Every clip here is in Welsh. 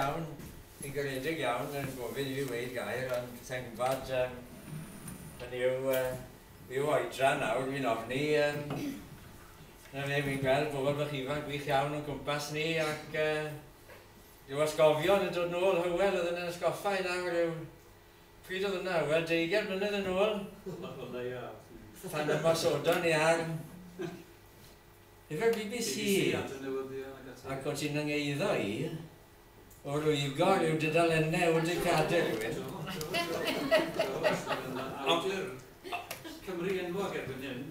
iawn, yn garedig iawn yn gofyn i fi weud gair am Tengvad yym hynny yw yy ryw oedran nawr fi'n ofni yym 'na fe fi'n gweld pobl bach ifanc gwych iawn o'n cwmpas ni ac yy ryw atgofion yn dod nôl Hywel oedd yn yn atgoffa i nawr yw pryd oedd hwnna Hywel deugain mlynedd yn ôl pan ymosodon ni ar Efo'r bbc ac o ti'n 'y ngeiddo i o rwygo ryw dudalenne o dy gadair rywun.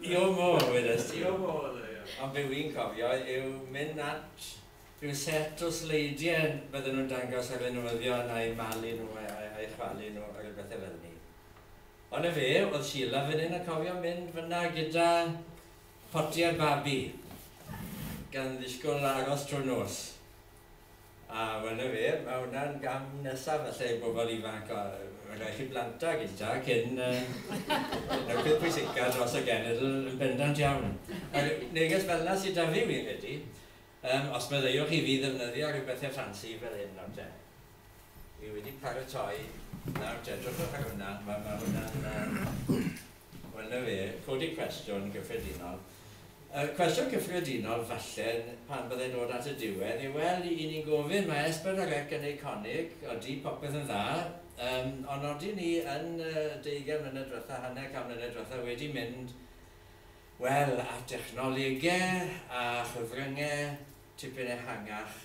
Your more wedes ti. Ond be wi'n cofio yw mynd at ryw set o sleidie bydden nhw'n dangos ar y newyddion a'u malu nhw a'u chwalu nhw a ryw bethe fel 'ny. Ond 'na fe, o'dd Sheila fyn 'yn yn cofio mynd fynna gyda Potiau babi, gan ddisgwyl aros trwy'r nos. A wel na fe, mae hwnna'n gam nesaf falle i bobl ifanc, mae'n rhaid chi blant a gynta cyn yy y peth pwysica dros y genedl yn bendant iawn. Neges felna sydd 'da fi fi'n credu. Yym, os meddaiwch i fi ddefnyddio rhyw bethe ffansi fel hyn nawr te. Fi wedi paratoi, nawr te, drychwch ar hwnna, ma' ma' hwnna'n yy wel 'na fe, codi cwestiwn gyffredinol. Y cwestiwn cyffredinol falle pan bydde'n dod at y diwedd yw wel, 'yn ni'n gofyn, ma' Es Pedwar Ec yn eiconig, odi popeth yn dda, yym, ond odyn ni yn y deugain mlynedd dwetha, hanner can mlynedd dwetha wedi mynd Wel, a technolegau a chyfryngau tipyn ehangach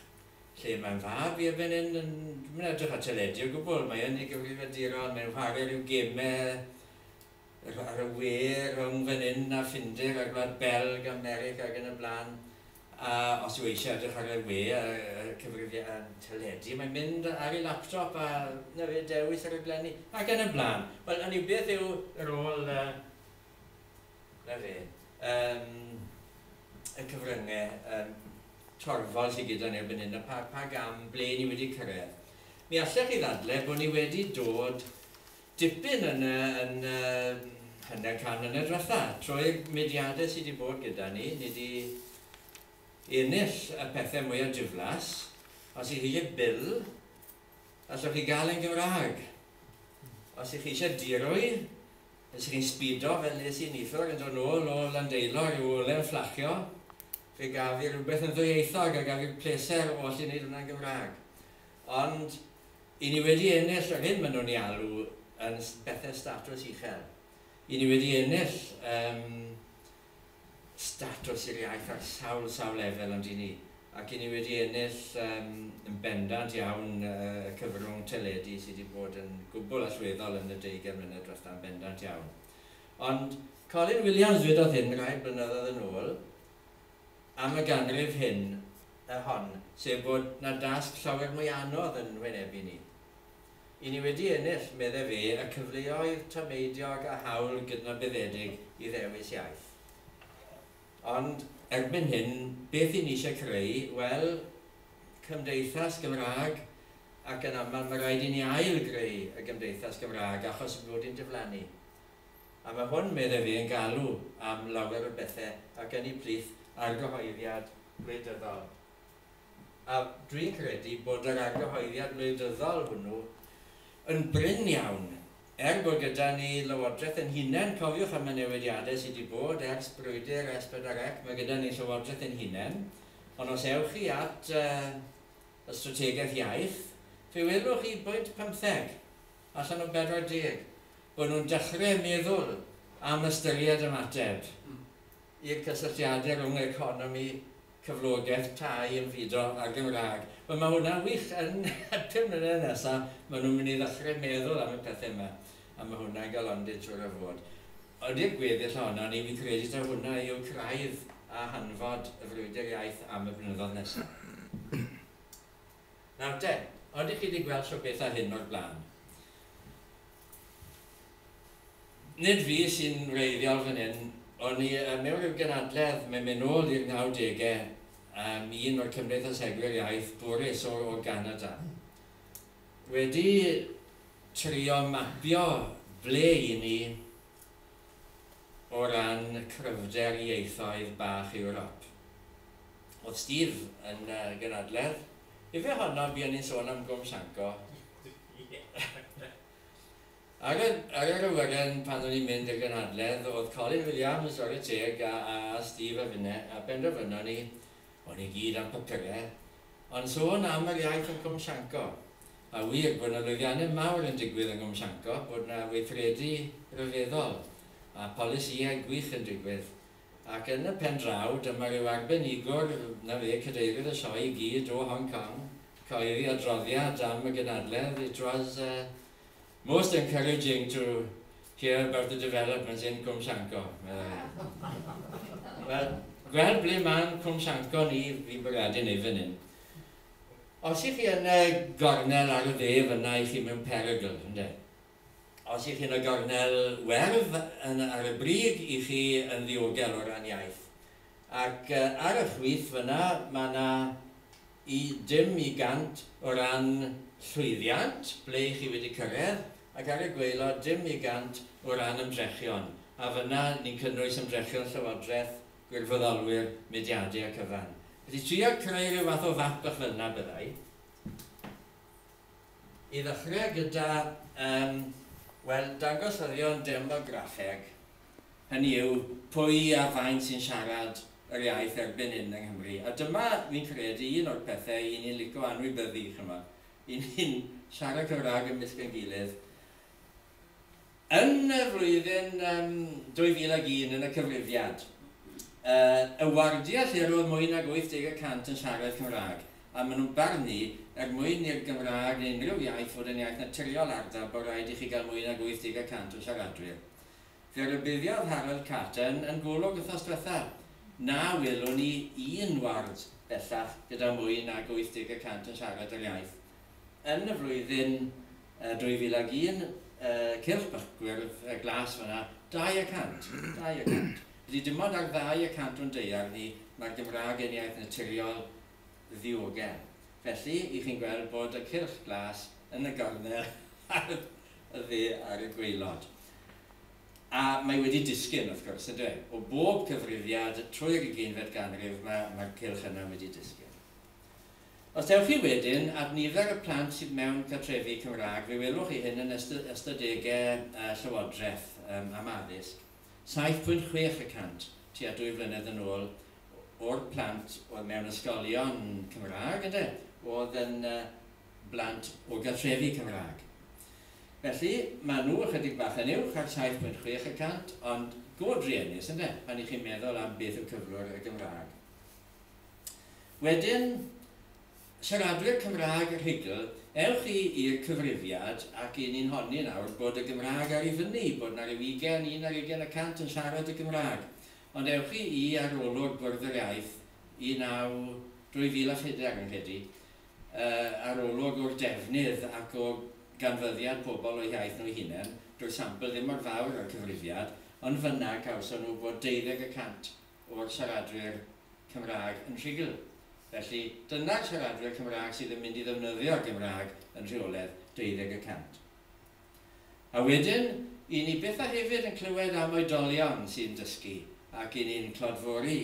lle mae'r fab i'r fan hyn yn, dwi'm yn edrych ar teledu o gwbl, mae yn ei gyfrifiaduron, mae'n chwarae rhyw gemau ar y we rhwng fan hyn a Ffinder a Gwlad Belg, America ac yn y blaen. A os yw eisiau edrych ar y we a cyfrifiad teledu, mae'n mynd ar ei laptop a na fe dewis y rhaglenni ac yn y blaen. Wel, hynny yw, beth yw rôl 'Na fe. Yym, y cyfryngau yym torfol sy gyda ni ar fan hyn a pa pa gam ble ni wedi cyrraedd. Mi allech chi ddadlau bod ni wedi dod dipyn yn y yn y hanner can mlynedd diwetha'. Trwy'r mudiadau sy' 'di bod gyda ni, ni 'di ennill y pethe mwya diflas. Os 'y chi isie Bill, allwch chi gael e'n Gymraeg. Os 'y chi isie dirwy, Nes i ni sbido fel es i neithiwr yn dod nôl o Landeilo ryw ole yn fflachio, fe gaf fi rywbeth yn ddwyieithog a gaf fi'r pleser o allu neud hwnna'n Gymrag. Ond i ni wedi ennill yr hyn ma' nhw'n 'i alw yn bethe statws uchel. I ni wedi ennill yym. statws i'r iaith ar sawl, sawl lefel ond i ni. Ac i ni wedi ennill yym yn bendant iawn y cyfrwng teledu sy' 'di bod yn gwbl allweddol yn y deugain mlynedd dwetha, yn bendant iawn. Ond Colin Williams ddwedodd hyn rai blynyddoedd yn ôl am y ganrif hyn, yy hon, sef bod 'na dasg llawer mwy anodd yn hwynebu ni. I ni wedi ennill, medde fe, y cyfleoedd tameidiog a hawl gydnabyddedig i ddewis iaith. Ond. Erbyn hyn, beth i ni eisiau creu? Wel, cymdeithas Gymraeg, ac yn aml mae rhaid i ni ail-greu y gymdeithas Gymraeg achos fod hi'n diflannu. A mae hwn, medde fe, yn galw am lawer o bethe, ac ynni plith ar gyhoeddiad gwleidyddol. A dwi'n credu bod yr argyhoeddiad wleidyddol hwnnw yn brin iawn, er bod gyda ni Lywodraeth ein hunain, cofiwch am y newidiadau sydd wedi bod ers brwydr S4C, mae gyda ni Llywodraeth ein hunain, ond os ewch chi at y strategaeth iaith, fe welwch chi bwynt pymtheg allan o 40, bod nhw'n dechrau meddwl am ystyried ymateb i'r cysylltiadau rhwng economi cyflogaeth tai yn fudo ar Gymraeg. Wel mae hwnna'n wych, yn y pum mlynedd nesa ma nhw'n mynd i ddechre meddwl am y pethe yma a ma hwnna'n galondid siŵr o fod. Ond i'r gweddill ohonon ni fi'n credu taw hwnna yw craidd a hanfod y frwydr iaith am y blynyddodd nesa. Nawr te, ydych chi 'di gweld siopethau hyn o'r blaen? Nid fi sy'n wreiddiol fan hyn, o'n i mewn rhyw gynadledd, mae'n mynd nôl i'r nawdegau, am un o'r cymdeithasegwyr iaith bwrus o o Ganada. Wedi trio mapio ble i ni o ran cryfder ieithoedd bach Ewrop. Oedd Steve yn gynadledd. Ife honno buon ni'n sôn am Gwm Sanco? Ar yr awyren pan o'n i'n mynd i'r gynhadledd, oedd Colin Williams, ware teg, a Steve a finne, a penderfynon ni, o'n i gyd am papurau, ond sôn am yr iaith yn Cwm Sanco. A wir, bod 'na lwyddiannau mawr yn digwydd yng Nghwm Sanco, bod 'na weithredu rhyfeddol, a polisïau gwych yn digwydd, Ac yn y pen draw, dyma ryw arbenigwr, 'na fe, Cadeirydd y Sioe i gyd, o Hong Kong, cyhoeddi adroddiad am y gynadledd. It was most encouraging to hear about the developments in Cwm Llanco, meddai. Wel, gweld ble mae'n Cwm Llanco ni, fi'n bwriadu neu fan hyn. Os i chi yn y gornel ar y dde fyna, i chi mewn perygl, ynde. Os y'ch chi'n y gornel werdd yn ar y brig y'ch chi yn ddiogel o ran iaith. Ac ar y chwith fyna ma' 'na i dim i gant o ran llwyddiant, ble y'ch chi wedi cyrredd, ac ar y gwaelod dim i gant o ran ymdrechion, a fyna ni'n cynnwys ymdrechion Llywodraeth, gwirfoddolwyr, mudiade a cyfan. Felly trio creu rhyw fath o fap bach fel'na byddai. I ddechrau gyda, yym, wel, dangosyddion demograffeg, hynny yw, pwy a faint sy'n siarad yr iaith erbyn hyn yng Nghymru. A dyma, fi'n credu, un o'r pethau i ni'n lico anwybyddu, chimod. I ni'n siarad Cymraeg ymysg ein gilydd, Yn y flwyddyn 2001, yn y cyfrifiad, y wardiau lle roedd mwy nag 80 y cant yn siarad Cymraeg, a maen nhw'n barnu, er mwyn i'r Gymraeg neu unrhyw iaith fod yn iaith naturiol ardal, bod rhaid i chi gael mwy nag 80 y cant o siaradwyr. Fe rybuddiodd Harold Caton yn Golwg wythnos diwetha', na welwn ni un ward bellach gyda mwy nag 80 y cant yn siarad yr iaith, yn y flwyddyn 2001, cylch bychgwyrdd glas fan'na, 200, 200. Felly dim ond ar 200 o'n daear ni mae'r Gymraeg yn iaith naturiol ddiogel. Felly, i chi'n gweld bod y cylch glas yn y gornel ar y dde ar y gwaelod. A mae wedi disgyn, wrth gwrs, ynddo e? O bob cyfrifiad trwy'r ugeinfed ganrif mae'r cylch yna wedi disgyn. Os dewch chi wedyn ar nifer y plant sydd mewn cartrefi Cymraeg, fe welwch chi hyn yn ystadegau y Llywodraeth am addysg, 7.6 y cant tua dwy flynedd yn ôl o'r plant oedd mewn ysgolion Cymraeg ynde, oedd yn blant o gartrefi Cymraeg. Felly, maen nhw ychydig bach yn uwch ar 7.6 y cant, ond go druenus ynde, pan y'ch chi'n meddwl am beth yw cyflwr y Gymraeg. Wedyn, siaradwyr Cymraeg y Rhugl, ewch chi i'r cyfrifiad ac i ni'n honni nawr bod y Gymraeg ar ei fyny, bod 'na ryw ugain, un ar ugain y cant yn siarad y Gymraeg. Ond ewch chi i arolwg Bwrdd yr Iaith 19 2004, rwy'n credu, yy arolwg o'r defnydd ac o ganfyddiad pobl o'u hiaith nhw'u hunain, dyw'r sampl ddim mor fawr â'r cyfrifiad, ond fan'na cawson nhw bod deuddeg y cant o'r siaradwyr Cymraeg yn rhugl. Felly, dyna'r siaradwyr Cymraeg sydd yn mynd i ddefnyddio'r Gymraeg yn rheoledd, deuddeg y cant. A wedyn, i ni byth a hefyd yn clywed am oedolion sy'n dysgu, ac i ni'n clodfori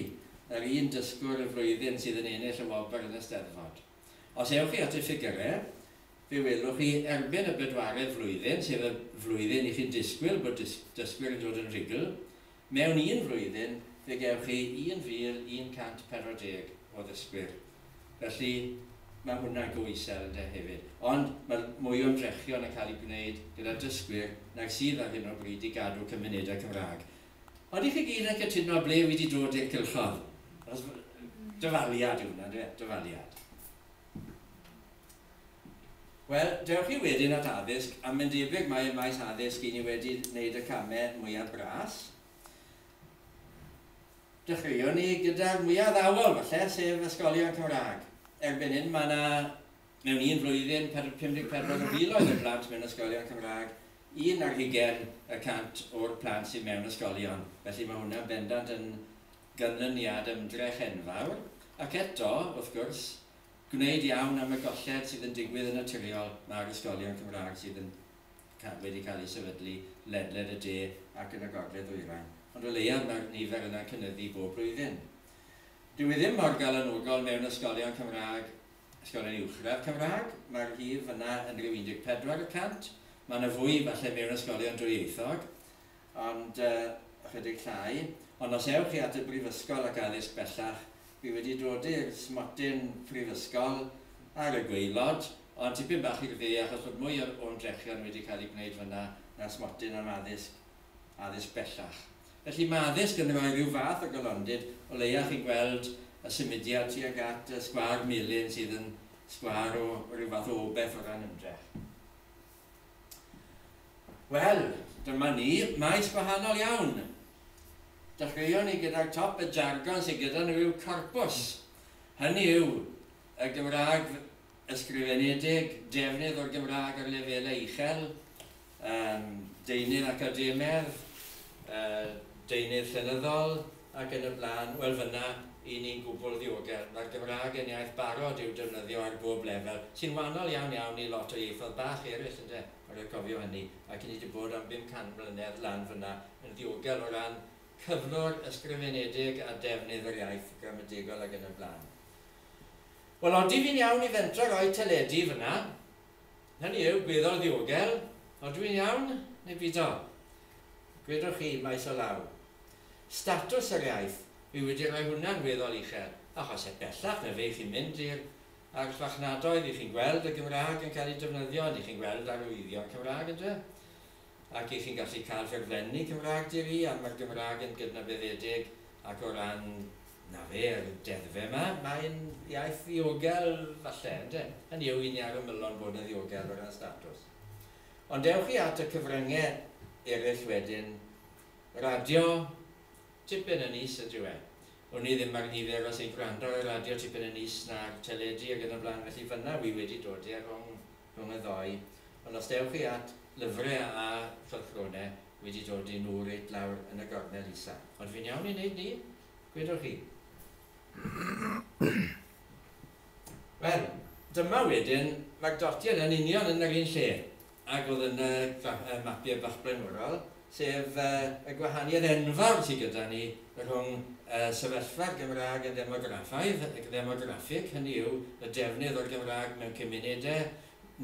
yr un dysgwr y flwyddyn sydd yn ennill y wobr yn y Steddfod. Os ewch chi at y ffigyrau, fe welwch chi erbyn y bedwaredd flwyddyn, sef y flwyddyn i chi'n disgwyl bod dysgwyr yn dod yn rhugl, Mewn un flwyddyn, fe gewch chi 1,140 o ddysgwyr. Felly, mae hwnna'n go isel, ynde, hefyd. Ond mae mwy o ymdrechion yn cael eu gwneud gyda dysgwyr nag sydd ar hyn o bryd i gadw cymunedau Cymraeg. Ond dych chi gyd yn cytuno ble wi 'di dod i'r cylchodd. Achos, dyfaliad yw hwnna, yndyw e? Dyfaliad. Wel, dewch chi wedyn at addysg, a mae'n debyg mai ym maes addysg i ni wedi wneud y camau mwyaf bras. Dechreuwn ni gyda'r mwyaf addawol, falle, sef ysgolion Cymraeg. Erbyn hyn, mae yna mewn un flwyddyn 54 o filoedd o blant mewn ysgolion Cymraeg, un ar hugain y cant o'r plant sydd mewn ysgolion. Felly mae hwnna'n bendant yn ganlyniad ymdrech enfawr. Ac eto, wrth gwrs, gwneud iawn am y golled sydd yn digwydd yn naturiol mae'r ysgolion Cymraeg sydd yn ca wedi cael eu sefydlu ledled y de ac yn y gogledd ddwyrain, ond o leiaf mae'r nifer yna'n cynyddu bob blwyddyn. Dyw e ddim mor galanogol mewn ysgolion Cymraeg, ysgolion uwchradd Cymraeg, mae'r hif yna yn rhyw 14 y cant, mae yna fwy falle mewn ysgolion dwyieithog, ond ychydig llai. Ond os ewch chi at y Brifysgol ac Addysg Bellach, fi wedi dod i'r smotyn Prifysgol ar y gwaelod, ond tipyn bach i'r dde achos bod mwy o o'n drechion wedi cael eu gwneud fan'na na'r smotyn am addysg, addysg bellach. Felly mae addysg yn rhoi rhyw fath o galondid, o leia' chi'n gweld y symudiad tuag at y sgwâr melyn sydd yn sgwâr o ryw fath o obeth o ran ymdrech. Wel, dyma ni, maes gwahanol iawn. Dechreuon ni gydag top y jargon sydd gyda nhw yw corpws. Hynny yw, y Gymraeg ysgrifenedig, defnydd o'r Gymraeg ar lefelau uchel, deunydd academedd, deunydd llenyddol, ac yn y blaen, wel fynna i ni'n gwbl ddiogel. Mae'r Gymraeg yn iaith barod i'w defnyddio ar bob lefel, sy'n wahanol iawn iawn i lot o ieithoedd bach eraill ynde, a rhaid cofio hynny, ac ni 'di bod am bum can mlynedd lan fynna yn ddiogel o ran cyflwr ysgrifenedig a defnydd yr iaith gramategol ac yn y blaen. Wel, odi fi'n iawn i fentro roi teledu fynna? Hynny yw, gwyddo ddiogel, odw i'n iawn, neu bido? Gwedwch chi, maes o law. Statws yr iaith, wi wedi rhoi hwnna'n weddol uchel, achos heb bellach na fe chi'n mynd i'r archfarchnadoedd i chi'n gweld y Gymraeg yn cael ei defnyddio, ni chi'n gweld arwyddion Cymraeg, ynde? ac i chi'n gallu cael rhaglenni Cymraeg Di Ri am yr Gymraeg yn gydnabyddedig ac o ran, na fe, yr deddfe yma, mae'n iaith ddiogel falle, ynde? Hynny yw, i ni ar ymylon bod yn ddiogel o ran statws. Ond dewch chi at y cyfrynge eraill wedyn, radio, tipyn yn is ydyw e. Wn i ddim ar nifer os ein gwrando ar y radio tipyn yn is na'r teledu ag yn y blaen, felly fynna wi wedi dodi ar rong rhwng y ddou, ond os dewch chi at lyfre a chylchgrone wedi dod i nhw reit lawr yn y gornel isa. Ond fi'n iawn i neud ni? Gwedwch chi. Wel, dyma wedyn fagdotiad yn union yn yr un lle ag o'dd yn y y mapie bach blaenorol. sef y gwahaniaeth enfawr sydd gyda ni rhwng sefyllfa'r Gymraeg yn ddemograffaidd, ddemograffig, hynny yw, y defnydd o'r Gymraeg mewn cymunedau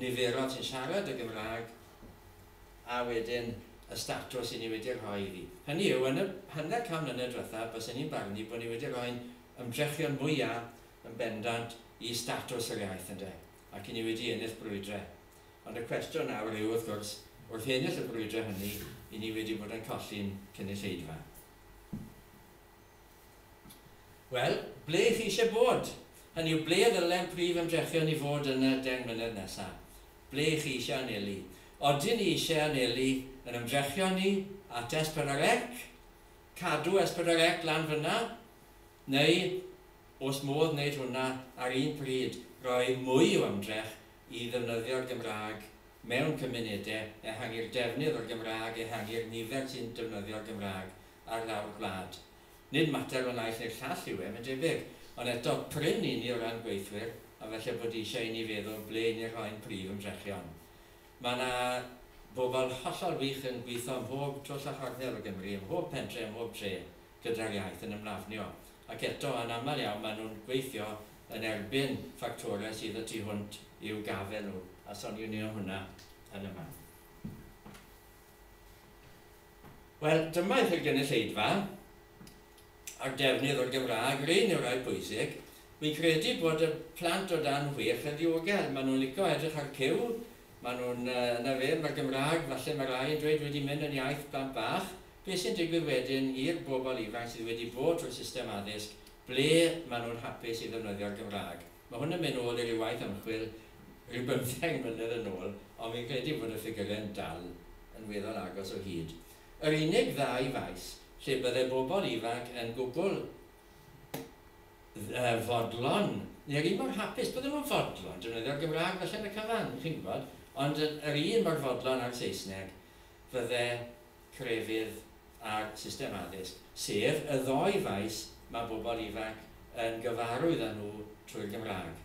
niferol sy'n siarad y Gymraeg, a wedyn y statws i ni wedi rhoi iddi. Hynny yw, yn y hanner can mlynedd diwethaf, bysen i'n barnu bod ni wedi rhoi'n ymdrechion mwyaf yn bendant i statws yr iaith, ynde, ac i ni wedi ennill brwydrau. Ond y cwestiwn nawr yw, wrth gwrs, wrth ennill y brwydrau hynny, 'yn ni wedi bod yn colli'n cynulleidfa? Wel, ble 'y chi eisiau bod? Hynny yw, ble ddylai'r prif ymdrechion i fod yn y deng mlynedd nesaf? Ble 'y chi eisiau anelu? Odyn ni eisiau anelu yn ymdrechion ni at S4C, cadw S4C lan fan'na, neu, os modd wneud hwnna ar un pryd, roi mwy o ymdrech i ddefnyddio'r Gymraeg mewn cymunedau, ehangu'r defnydd o'r Gymraeg, ehangu'r nifer sy'n defnyddio'r Gymraeg ar lawr gwlad. Nid mater o naill neu'r llall yw e, mae'n debyg, ond eto, prin i ni o ran gweithwyr, a falle bod eisiau i ni feddwl ble 'yn ni'n rhoi'n prif ymdrechion. Mae 'na bobl hollol wych yn gweithio ym mhob twll a chornel o Gymru, ym mhob pentre, ym mhob tre. gyda'r iaith yn ymlafnio. Ac eto, yn aml iawn maen nhw'n gweithio yn erbyn ffactorau sydd y tu hwnt i'w gafael nhw, a soniwn ni am hwnna yn y man. Wel, dyma i chi'r gynulleidfa a'r defnydd o'r Gymraeg, rhain yw'r rhai pwysig. Fi'n credu bod y plant o dan chwech yn ddiogel, maen nhw'n licio edrych ar cyw, maen nhw'n, uh, na fe, mae'r Gymraeg, falle mae rai yn dweud wedi mynd yn iaith blant bach, Be sy'n digwydd wedyn i'r bobl ifanc sydd wedi bod trwy'r system addysg ble maen nhw'n hapus i ddefnyddio'r Gymraeg? Mae hwn yn mynd nôl i ryw waith ymchwil ryw bymtheg mlynedd yn ôl, ond fi'n credu bod y ffigyrau'n dal yn weddol agos o hyd. Yr unig ddau faes lle bydde bobl ifanc yn gwbl fodlon, neu yr un mor hapus, bydden nhw'n fodlon defnyddio'r Gymraeg falle yn y cyfan, chi'n gwybod, ond yr un mor fodlon â'r Saesneg, fydde crefydd a'r system addysg, sef y ddou faes mae bobl ifanc yn gyfarwydd â nhw trwy'r Gymraeg.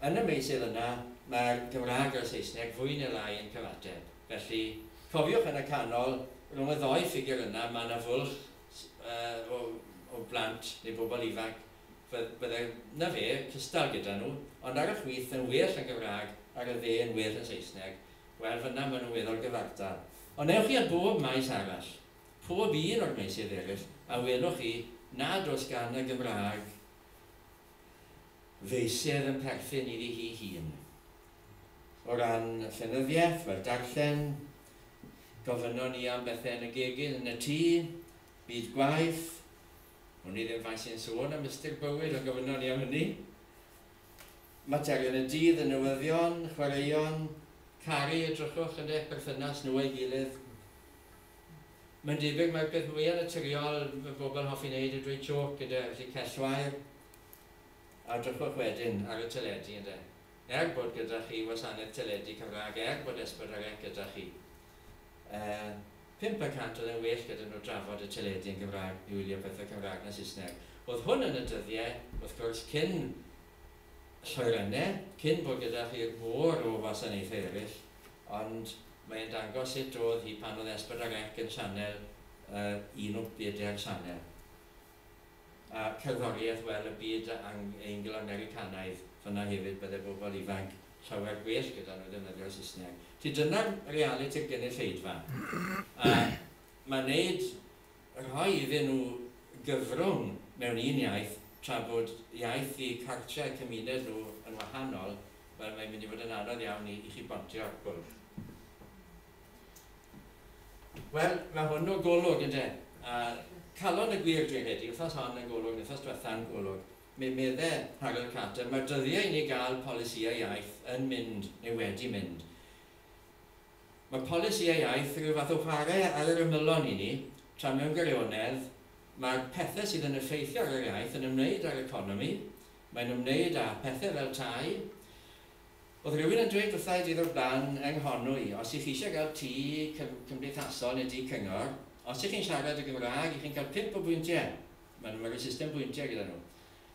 Yn y meysydd yna, mae'r Gymraeg a'r Saesneg fwy neu lai yn cyfateb. Felly, cofiwch yn y canol, rhwng y ddou ffigur yna, mae yna fwlch o blant neu bobl ifanc, fydde, 'na fe, cystal gyda nhw, ond ar y chwith yn well yn Gymraeg ar y dde yn well yn Saesneg. Wel, fynna ma' nhw efo'r gyfartal. Ond ewch chi a bob maes arall, pob un o'r meysydd eraill, a welwch chi nad oes gan y Gymraeg feysydd yn perthyn iddi hi hun. O ran llenyddiaeth, wel, darllen, gofynnon ni am bethe yn y gegin yn y tŷ, byd gwaith, wn i ddim faint sy'n sôn am ystyr bywyd, ond gofynnon ni am hynny. Materion y dydd y newyddion, chwaraeon, caru, edrychwch yn eich perthynas nhw a'i gilydd. Mae'n debyg mai'r peth mwyaf naturiol mae pobl hoffi wneud yw dweud jôc gyda felly cell wair a edrychwch wedyn ar y teledu ynde? Er bod gyda chi wasanaeth teledu Cymraeg, er bod Esbyd ar Ec gyda chi. Yy, pump y cant oedd e'n well gyda nhw drafod y teledu yn Gymraeg i wylio pethau Cymraeg na Saesneg. Oedd hwn yn y dyddie, wrth gwrs, cyn lloeryne, cyn bod gyda chi mor o wasanaethau eryll, ond mae e'n dangos sut oedd hi pan oedd Esbert a Rec yn sianel yy un o bedair sianel. a cerddoriaeth, wel, y byd Angl-Americanaidd, fan'na hefyd bydde bobl ifanc llawer gwell gyda nhw ddefnyddio'r Saesneg. Felly dyna'r realiti'r gynulleidfa. A mae wneud, rhoi iddyn nhw gyfrwng mewn un iaith, tra bod iaith eu cartre a'u cymuned nhw yn wahanol, wel, mae'n mynd i fod yn anodd iawn i chi bontio bwlch. Wel, mae hwn o Golwg, ynde? A calon y gwir dwi heddi, wythnos hon yn Golwg, wythnos diwetha yn Golwg. Mi medde Rhagor Carter, mae'r dyddiau i ni gael polisïau iaith yn mynd, neu wedi mynd. Mae polisïau iaith rhyw fath o whare ar yr ymylon i ni, tra mewn gwirionedd, mae'r pethe sydd yn effeithio ar yr iaith yn ymwneud â'r economi, mae'n ymwneud â phethe fel tai, Oedd rhywun yn dweud wrtha i diddo'r ban yng Nghornw i, os y'ch chi eisiau gael tŷ cym cymdeithasol neu dŷ cyngor, os y'ch chi'n siarad y Gymraeg, y'ch chi'n cael pump o bwyntiau. Maen nhw rhoi system bwyntiau gyda nhw.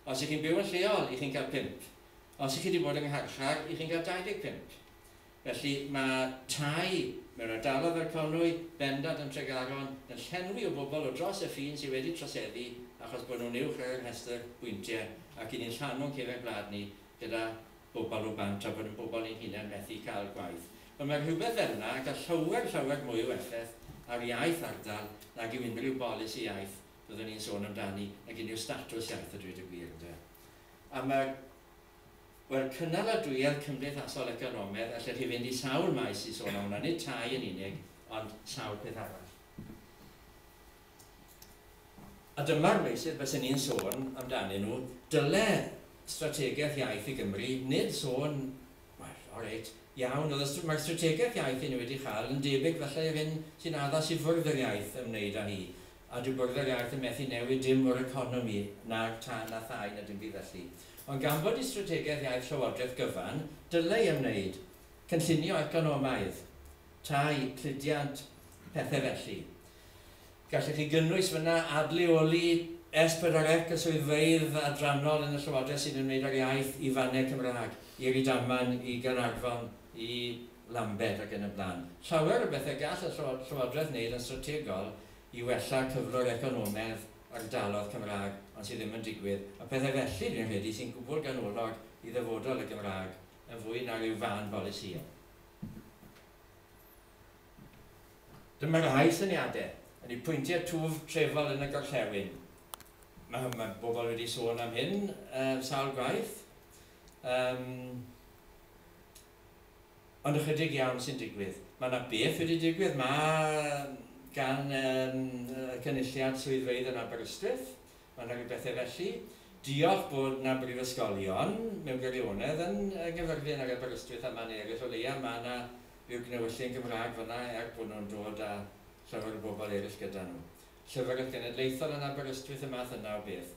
Os y'ch chi'n byw yn lleol, y'ch chi'n cael pump. Os y'ch chi 'di bod yng ngharchar, y'ch chi'n cael 25. Felly, mae tai mewn ardaloedd fel Conwy, bendant yn Tregaron, yn llenwi o bobl o dros y ffin sydd wedi troseddu achos bod nhw'n uwch ar ein rhestr bwyntiau ac 'yn ni'n rhannu'n cefn gwlad ni gyda bobl o bant a bod yn bobl ein hunain methu cael gwaith. Ond mae rhywbeth fel yna yn cael llawer, llawer mwy o effaith ar iaith ardal nag yw unrhyw bolisi iaith fyddwn ni'n sôn amdani, nag unrhyw statws iaith a dweud y gwir, ynde. A mae, wel, cynaladwyedd cymdeithasol economedd, allech chi fynd i sawl maes i sôn am hwnna, nid tai yn unig, ond sawl peth arall. A dyma'r meysydd bysen i'n sôn amdanyn nhw, dyle strategaeth iaith i Gymru nid sôn, wel, o reit, iawn, oedd y, mae'r strategaeth iaith i ni wedi chael yn debyg falle i'r hyn sy'n addas i Fwrdd yr Iaith ymwneud â hi, a dyw Bwrdd yr Iaith yn methu newid dim o'r economi, na'r tân a thai, na dim byd felly. Ond gan fod i strategaeth iaith Llywodraeth gyfan, dyle i ymwneud, cynllunio economaidd, tai, cludiant, pethau felly. Gallech chi gynnwys fyna adleoli S4C y swyddfeydd adrannol yn y Llywodraeth sy'n ymwneud â'r iaith i Fannau Cymraeg, i Rydaman, i Gaernarfon, i Lambed ac yn y blaen. Llawer o bethau gall y Llywodraeth wneud yn strategol i wella cyflwr economedd ardaloedd Cymraeg ond sydd ddim yn digwydd, a phethau felly, dwi'n credu, sy'n gwbl ganolog i ddyfodol y Gymraeg yn fwy na rhyw fân polisïau. Dyma rai syniadau. Yn y pwyntiau twf trefol yn y gorllewin. Mae, mae bobl wedi sôn am hyn uh, sawl gwaith. Um, ond ychydig iawn sy'n digwydd. Mae yna beth wedi digwydd, mae gan um, cynulliad swyddfeydd yn Aberystwyth. Mae yna rhywbethau felly. Diolch bod yna brifysgolion mewn gwirionedd yn gyfyrddin ar Aberystwyth a mae'n eraill o leia. Mae yna Byw gnewyllyn Gymraeg fan'na er bod nhw'n dod â llawer o bobl eraill gyda nhw. Llyfrgell Genedlaethol yn Aberystwyth, y math yna o beth.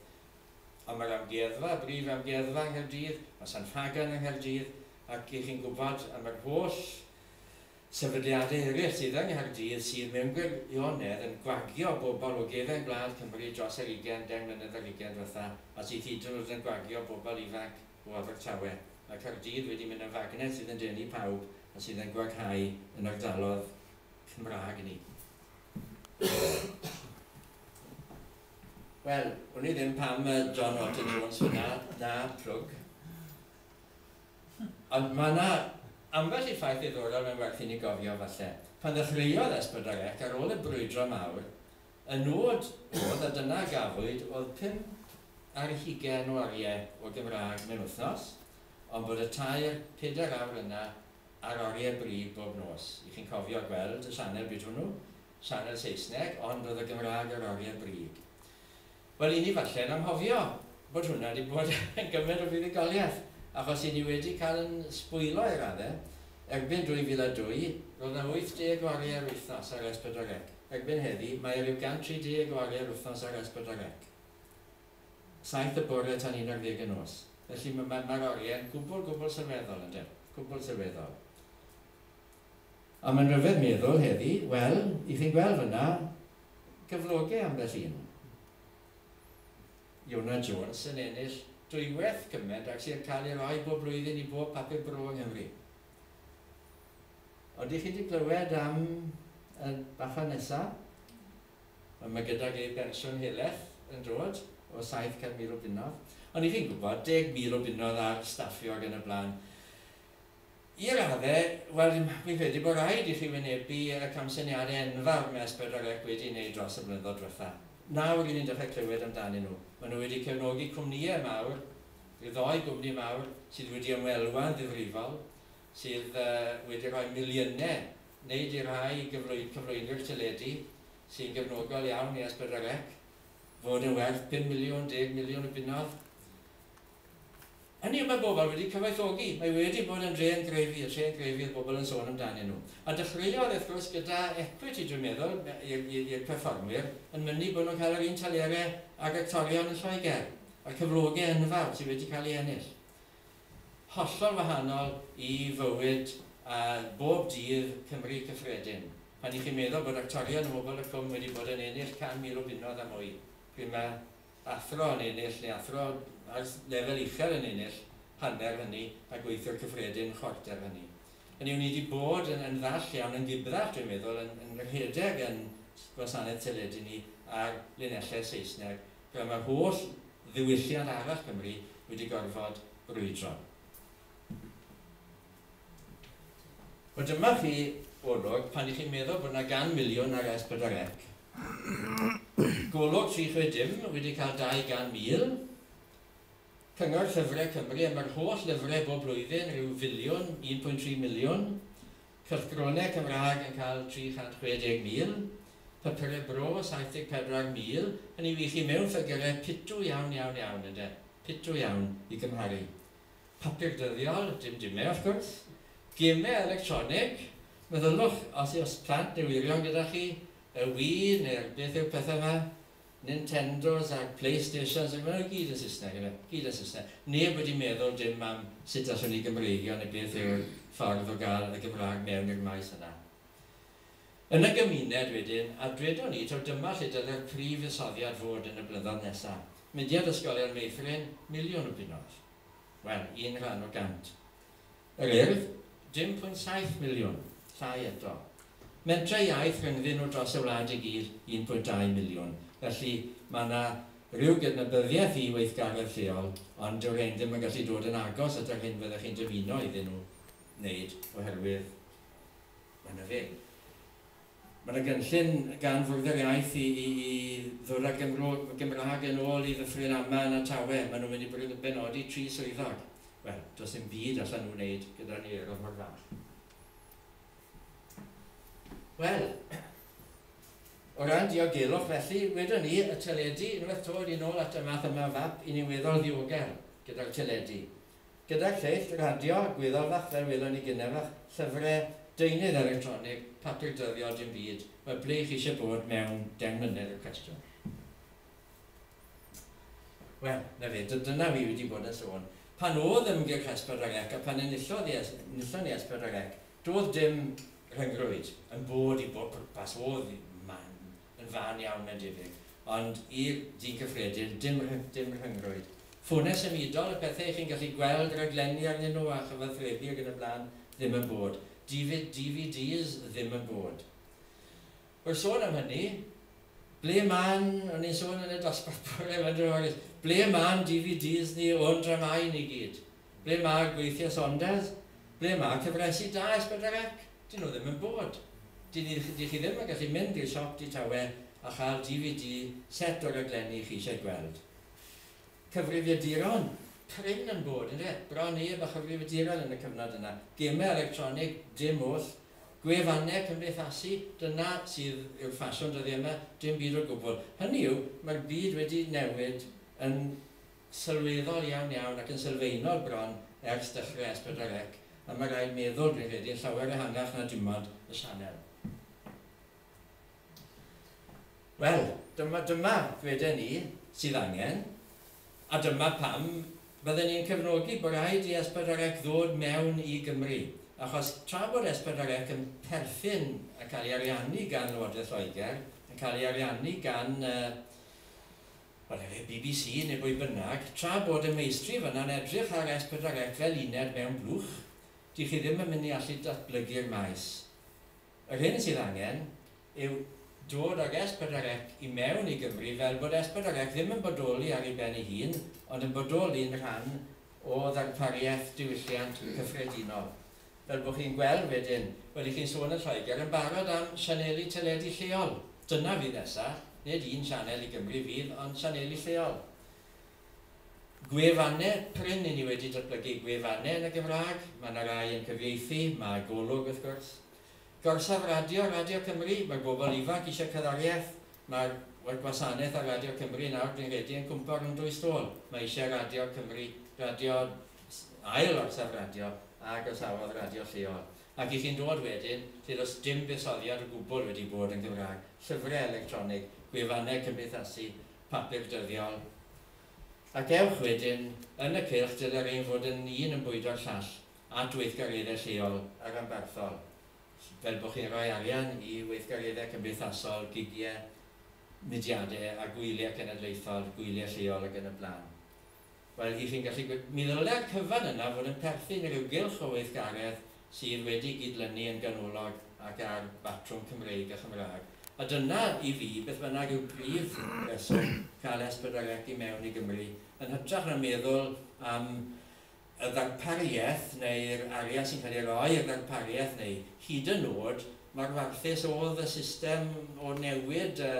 Ond mae'r amgueddfa, y brif amgueddfa yng Nghaerdydd, mae Sant Ffagan yng Nghaerdydd, ac 'y chi'n gwybod am yr holl sefydliadau eraill sydd yng Nghaerdydd sydd mewn gwirionedd yn gwagio bobl o gefn gwlad Cymru dros yr ugain, deng mlynedd ar ugain diwetha, a sydd hyd yn oed yn gwagio bobl ifanc. o Abertawe, mae Caerdydd wedi mynd yn fagnet sydd yn denu pawb a sydd yn gwaghau yn ardalodd Cymraeg ni. Wel, wn i ddim pam mae John Notting Jones fyna, na plwg. Ond mae yna ambell i ffaith ddiddorol mae'n werth i ni gofio falle. Pan ddechreuodd Esbydar Ec, ar ôl y brwydro mawr, Y nod oedd, a dyna a gafwyd, oedd pum ar hugain o oriau o Gymraeg mewn wythnos, ond bod y tair, pedair awr yna ar oriau bryd bob nos. Y'ch chi'n cofio gweld y sianel bryd hwnnw? Sianel Saesneg, ond oedd y Gymraeg ar oriau bryd. Wel, 'yn ni falle yn anghofio bod hwnna 'di bod yn gymaint o fuddugoliaeth, achos 'yn ni wedi cael yn sbwyllo i radde. Erbyn 2002, roedd 'na 80 o ariau yr wythnos ar S4C. Erbyn heddi, mae e ryw 130 o ariau'r wythnos ar S4C. Saith y bore tan un ar ddeg y nos. Felly, ma- ma- ma'r oriau'n gwbl, gwbl sylweddol, ynde. Gwbl sylweddol. A mae'n rhyfedd meddwl heddi, wel, i chi'n gweld fanna, gyfloge ambell un. Iona Jones yn ennill dwywaith cyment ag sy'n cael ei roi bob blwyddyn i bob papur bro yng Nghymru. Oeddech chi wedi clywed am y bachgen nesaf? Wel, mae gydag ei bensiwn heleth yn dod o 700,000 o bunnoedd. Ond i chi'n gwybod, 10,000 o bunnoedd ar staffio ac yn y blaen. I raddau, wel, fi'n credu bod rhaid i chi wynebu y camsyniadau enfawr mae Esberdagaeth wedi neud dros y blynyddoedd dwetha. Nawr ry'n ni'n dechrau clywed amdanyn nhw. Maen nhw wedi cefnogi cwmnïau mawr, ryw ddoi gwmni mawr sydd wedi ymwelwa'n ddifrifol, sydd wedi rhoi miliynau, neu 'di rhai gyflwy- cyflwynwyr teledu sy'n gefnogol iawn i Esberdagec, fod yn werth pum miliwn, deg miliwn y bunnodd. Hynny yw, mae pobl wedi cyfoethogi, mae wedi bod yn drên grefi, y trên grefi oedd pobl yn sôn amdanyn nhw. A dechreuodd, wrth gwrs, gyda equity, dwi'n meddwl, i'r perfformwyr, yn mynnu bod nhw'n cael yr un telerau ag actorion yn Lloegr, a'r cyflogau enfawr sydd wedi cael ei ennill. Hollol wahanol i fywyd a bob dydd Cymru cyffredin, pan 'y chi'n meddwl bod actorion o Hwbl y Cwm wedi bod yn ennill 100,000 o bunnoedd a mwy, pryd mae athro yn ennill neu athro ar lefel uchel yn ennill hanner hynny a gweithiwr cyffredin chwarter hynny. Hynny yw, ni 'di bod yn yn ddall iawn yn ddibraf, dwi'n meddwl, yn yn rhedeg yn gwasanaeth teledu ni ar linellau Saesneg, fel mae'r holl ddiwylliant arall Cymru wedi gorfod brwydro. Wel, dyma chi olwg, pan 'y chi'n meddwl bod 'na gan miliwn ar S4C, Golwg 360 wedi cael 200,000 Cyngor Llyfrau Cymru am yr holl lyfrau bob blwyddyn, rhyw filiwn, 1.3 miliwn Cylchgronau Cymraeg yn cael 360,000 Papurau Bro, 74,000 Hynny yw, i chi mewn ffygyrau pitw iawn, iawn, iawn, ynde, pitw iawn i gymharu Papur dyddiol, dim dimau wrth gwrs. Gemau electronig, meddyliwch os yw'ch plant neu wyrion gyda chi, y Wii neu'r beth yw'r pethau yma, Nintendos a Playstations, ac maen nhw i gyd yn Saesneg ynde, gyd yn Saesneg. Neb wedi meddwl dim am sut allwn ni Gymreigio neu beth yw'r ffordd o gael y Gymraeg mewn i'r maes yna. Yn y gymuned wedyn, a dwedwn ni, taw dyma lle dylai'r prif fuddsoddiad fod yn y blynyddoedd nesaf. Mudiad Ysgolion Meithrin, miliwn o bunnoedd. Wel, un rhan o gant. Yr Urdd, 1.7 miliwn, llai eto. Mentrau iaith rhyngddyn nhw dros y wlad i gyd, 1.2 miliwn. Felly, mae yna ryw gydnabyddiaeth i weithgaredd lleol, ond dyw rhein ddim yn gallu dod yn agos at yr hyn fyddech chi'n dymuno iddyn nhw wneud oherwydd Mae 'na ddim. Mae 'na gynllun gan Fwrdd yr Iaith i i i ddod â'r Gymro, Gymraeg yn ôl i Ddyffryn Aman a Tawe. Maen nhw'n mynd i benodi tri swyddog. Wel, does dim byd allan nhw wneud gyda'r niweirodd mor fach. Wel, o ran diogelwch felly, wedon ni, y teledu, unwaith to, wedi nôl at y math yma o fap i niweddol ddiogel gyda'r teledu. Gyda lleill radio a gwyddor fach fel welon ni gynnau fach, llyfre, deunydd electronig, papur dyddiol, dim byd, wel ble y'ch chi eisiau bod mewn deng mlynedd yw'r cwestiwn. Wel, 'na fe, dy- dyna fi wedi bod yn sôn. Pan o'dd ymgyrch Es Pedwar Ec a phan enillodd i Es- enillon ni Es Pedwar Ec, do'dd dim rhyngrwyd yn bod i bob pwrpas, o'dd man Yn fân iawn mae'n debyg. Ond i ddyn cyffredin, dim rhyng, dim rhyngrwyd. Ffonau symudol, y pethau chi'n gallu gweld rhaglenni arnyn nhw a chyfathrebu ac yn y blaen, ddim yn bod. Difid DVDs, ddim yn bod. Wel, sôn am hynny, ble ma'n, o'n i'n sôn yn y dosbarth bore 'ma, yn dro, ble ma'n DVDs ni o'n dramâu ni gyd? Ble mae gweithiau Saunders? Ble mae cyfresi da Esbydrec? Dyn nhw ddim yn bod. Dyn ni dych chi ddim yn gallu mynd i'r siop di tawe a chael DVD set o raglenni chi eisiau gweld. Cyfrifiaduron prin yn bod, ynde? Bron neb a chyfrifiaduron yn y cyfnod yna. Gemau electronig, dim oll. Gwefannau cymdeithasu, dyna sydd yw'r ffasiwn dyddiau yma, dim byd o gwbl. Hynny yw, mae'r byd wedi newid yn sylweddol iawn iawn ac yn sylfaenol bron ers dechrau S pedwar Ec a mae rhaid meddwl, rwy'n credu, yn llawer ehangach na dim ond y sianel. Wel, dyma, dyma, ddweden ni, sydd angen, a dyma pam bydden ni'n cefnogi bod rhaid i S pedwar Ec ddod mewn i Gymru, achos tra bod S pedwar Ec yn perthyn a cael ei ariannu gan Lywodraeth Lloegr, yn cael ei ariannu gan uh, Ond efe bbc neu bwy bynnag, tra bod y meistri fyna'n edrych ar S pedwar Ec fel uned mewn blwch, dych chi ddim yn mynd i allu datblygu'r maes. Yr hyn sydd angen yw dod ag S pedwar Ec i mewn i Gymru fel bod S pedwar Ec ddim yn bodoli ar ei ben ei hun, ond yn bodoli'n rhan o ddarpariaeth diwylliant cyffredinol. Fel bo chi'n gweld wedyn, wedi chi'n sôn yn Lloegr yn barod am sianeli teledu lleol, dyna fydd nesa, nid un sianel i Gymru fydd ond sianeli lleol. Gwefanne prin, i ni wedi datblygu gwefanne yn y Gymraeg, ma' na rai yn cyfieithu, ma' Golwg wrth gwrs. Gorsaf radio, Radio Cymru, ma' bobl ifanc isio cerddoriaeth, Mae'r gwasanaeth ar Radio Cymru nawr, dwi'n credu, yn cwympo rhwng dwy stôl. Mae eisiau Radio Cymru, radio, ail orsaf radio, a groesawodd radio lleol. Ac i chi'n dod wedyn, lle does dim buddsoddiad o gwbl wedi bod yn Gymraeg, llyfrau electronig, gwefannau cymdeithasu, papur dyddiol. Ac ewch wedyn, yn y cylch dyle rhein fod yn un yn bwydo'r llall, at weithgareddau lleol a rhanbarthol. fel bod chi'n rhoi arian i weithgareddau cymdeithasol, gigiau, mudiadau a gwyliau cenedlaethol, gwyliau lleol ac yn y blaen. Wel, i chi'n gallu gwe-... Mi ddylai'r cyfan yna fod yn perthyn i ryw gylch o weithgaredd sydd wedi gydlynu yn ganolog ac ar batrwm Cymreig a Chymraeg. A dyna, i fi, beth bynnag yw prif reswm cael S4C i mewn i Gymru, yn hytrach na meddwl am y ddarpariaeth neu'r arian sy'n cael ei roi i'r ddarpariaeth neu hyd yn oed mae'r warthus oedd y system o newid y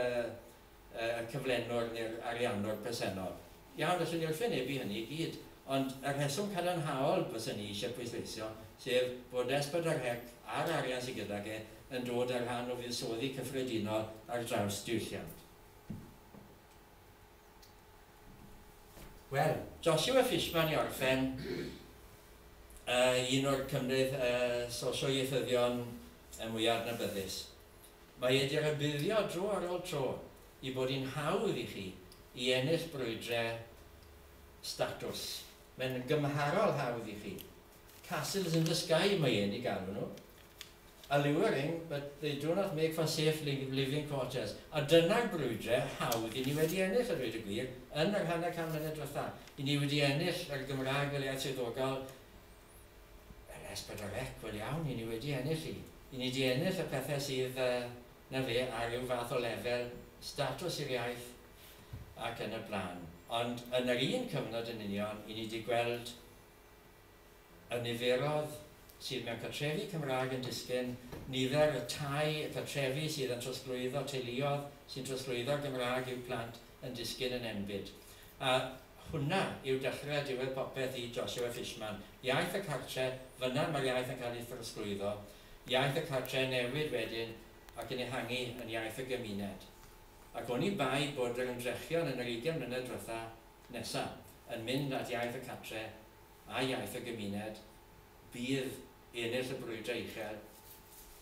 y cyflenwr neu'r ariannwr presennol. Iawn, allwn ni wrthwynebu hynny i gyd, ond y rheswm cadarnhaol fyswn i eisiau pwysleisio, sef bod SPDRHEC a'r arian sydd gydag e yn dod â rhan o fuddsoddi cyffredinol ar draws diwylliant. Wel, Joshua Fishman i orffen, yy un o'r cymdeith yy sosio ieithyddion y mwya adnabyddus. Mae e di rybuddio dro ar ol tro i bod i'n hawdd i chi i ennill brwydre statws. Mae'n gymharol hawdd i chi. Castles in the Sky mae e'n ei galw nhw. Alluring, but they do not make for safe living quarters. A dyna'r brwydre hawdd i ni wedi ennill, a dweud y gwir, yn yr hanner can mlynedd diwetha'. I ni wedi ennill yr Gymraeg fel iaith swyddogol, yr es pedwar ec, wel iawn, i ni wedi ennill hi. I ni 'di ennill y pethe sydd, na fe, ar ryw fath o lefel, statws i'r iaith ac yn y blaen. Ond yn yr un cyfnod yn union, i ni 'di gweld Y niferoedd sydd mewn cartrefi Cymraeg yn disgyn, nifer y tai y cartrefi sydd yn trosglwyddo teuluoedd sy'n trosglwyddo'r Gymraeg i'w plant yn disgyn yn enbyd. A hwnna yw dechrau a diwedd popeth i Joshua Fishman. Iaith y cartre, fynna mae'r iaith yn cael ei throsglwyddo. Iaith y cartre yn newid wedyn ac yn ehangu yn iaith y gymuned. Ac oni bai bod yr ymdrechion yn yr ugain mlynedd diwetha' Nesa, yn mynd at iaith y cartre a iaith y gymuned, bydd i ennill y brwydrau uchel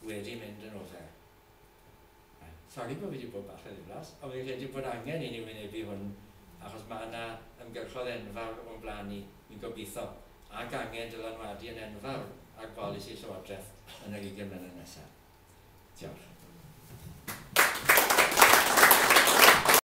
wedi mynd yn ofer. Sori bod fi wedi bod bach yn ddiflas, ond fi'n credu bod angen i ni wynebu hwn achos mae yna ymgyrchodd enfawr o'n blaen ni, fi'n gobeithio, ac angen dylanwadu yn enfawr ar bolisi Llywodraeth yn yr ugain mlynedd nesaf. Diolch.